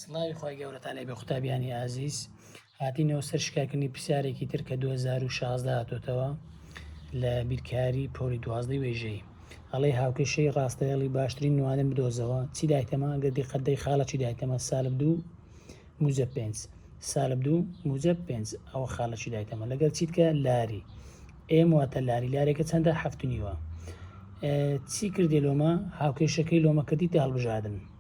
سڵاوی خوای گەورەتان لێ بێ قوتابیانی ئازیز هاتینەوە سەر شکاکردنی پرسیارێکی تر کە 2016 هاتۆتەوە لە بیرکاری پۆری دوازدەی وێژەی ئەڵێ هاوکێشەی ڕاستەیەڵی باشترین نوانم بدۆزەوە چی دایتەمە گە دیقەدەی خاڵە چی دایتەمە سالب دوو موزە پێنج سالب دوو موزە پێنج ئەوە خاڵە چی دایتەمە لەگەر چیتکە لاری ئێم واتە لاری لارێکە چەندە هەفتنیوە چی کردی لۆمە هاوکێشەکەی لۆمە کردی تا هەڵبژاردن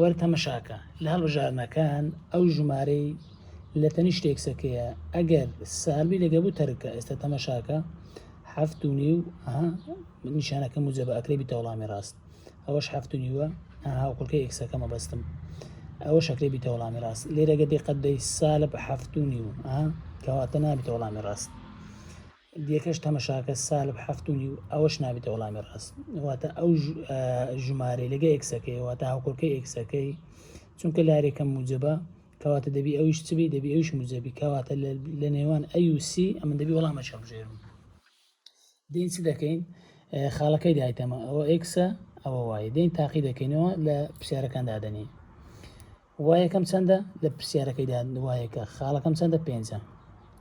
وەرە تەمەشاکە لە هەڵبژاردنەکان ئەو ژمارەی لە تەنیشت تێکسەکەیە ئەگەر سالبی لەگە بوو تەرکە ئێستا تەمەشاکە هەفت و نیو نیشانەکە موجەبە ئەکرێ بیتە وەڵامی ڕاست ئەوەش هەفت و نیوە هاوکڵکە ئێکسەکە مەبەستم ئەوە شەکرێ بیتە وەڵامی ڕاست لێرەگە دقەت دەی سالب هەفت و نیو کەواتە نابیتە وەڵامی ڕاست دیکەش تەمەشاکە سالب حەفت و نیو ئەوەش نابێتە وەڵامی ڕاست واتە ئەو ژمارەی لەگە ئێکسەکەی واتە هاوکۆکەی ئێکسەکەی چونکە لارێکە موجبە کەواتە دەبی ئەویش چبی دەبی ئەوش موجەبی کەواتە لە نێوان ئەوسی ئەمە دەبی وەڵامە چەڵژێرم دین چ دەکەین خاڵەکەی دایتەمە ئەوە ئێکسە ئەوە وایە دین تاقی دەکەینەوە لە پرسیارەکان دادەنین وایەکەم چەندە لە پرسیارەکەیدا وایەکە خاڵەکەم چەندە پێنجە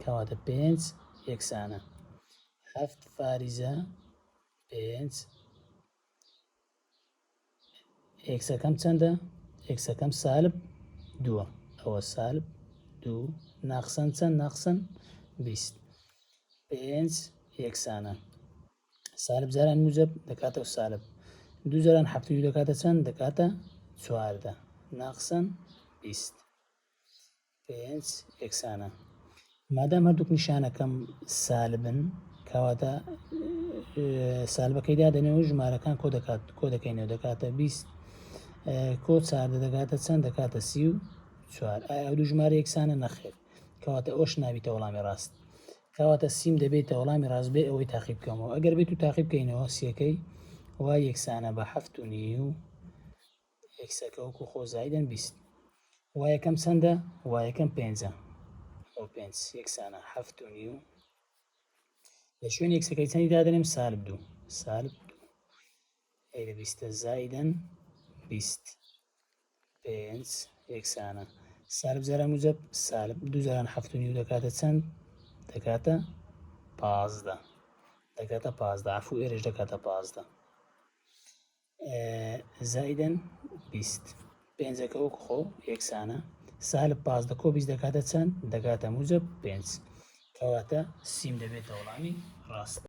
کەواتە پێنج یەکسانە هەفت فاریزە پێنج ئێکسەکەم چەندە ئێکسەکەم سالب دووە ئەوە سالب دوو ناقسەن چەند ناقسەن بیست پێنج یەکسانە سالب جاران موجب دەکاتەوە سالب دوو جاران حەفتوی دەکاتە چەند دەکاتە چواردە ناقسەن بیست پێنج یەکسانە مادام هەردووک نیشانەکەم سالبن کەواتە سالبەکەیدا دەنێەوە ژمارەکان کۆ دەکات کۆ دەکەینەوە دەکاتە بیست کۆ چاردە دەکاتە چەند دەکاتە سی و چوار ئایا دوو ژمارە یەکسانە نەخێر کەواتە ئەوش نابیتە وەڵامی ڕاست کەواتە سیم دەبێیتە وەڵامی ڕاست بێ ئەوەی تاقی بکەمەوە ئەگەر بێت و تاقی بکەینەوە سیەکەی وا یەکسانە بە حەفت و نیو ئێکسەکە وەکو خۆ زایدەن بیست وا یەکەم چەندە وا یەکەم پێنجە بۆ پێنج یەکسانە حەفت و نیو لە شوێن یەکسەکەی چەندی دادەنێم سالب دوو سالب غەیرە بیستە زائیدەن بیست پێنج یەکسانە سالب جاران موجب سالب دوو جاران حەفت و نیو دەکاتە چەند دەکاتە پازدە دەکاتە پازدە عفو ئێرەش دەکاتە پازدە زایدن بیست پێنجەکە وەک خۆ یەکسانە سالب پازدە کۆ بیست دەکاتە چەند دەکاتە موجب پێنج کەواتە سیم دەبێتە وڵامی ڕاست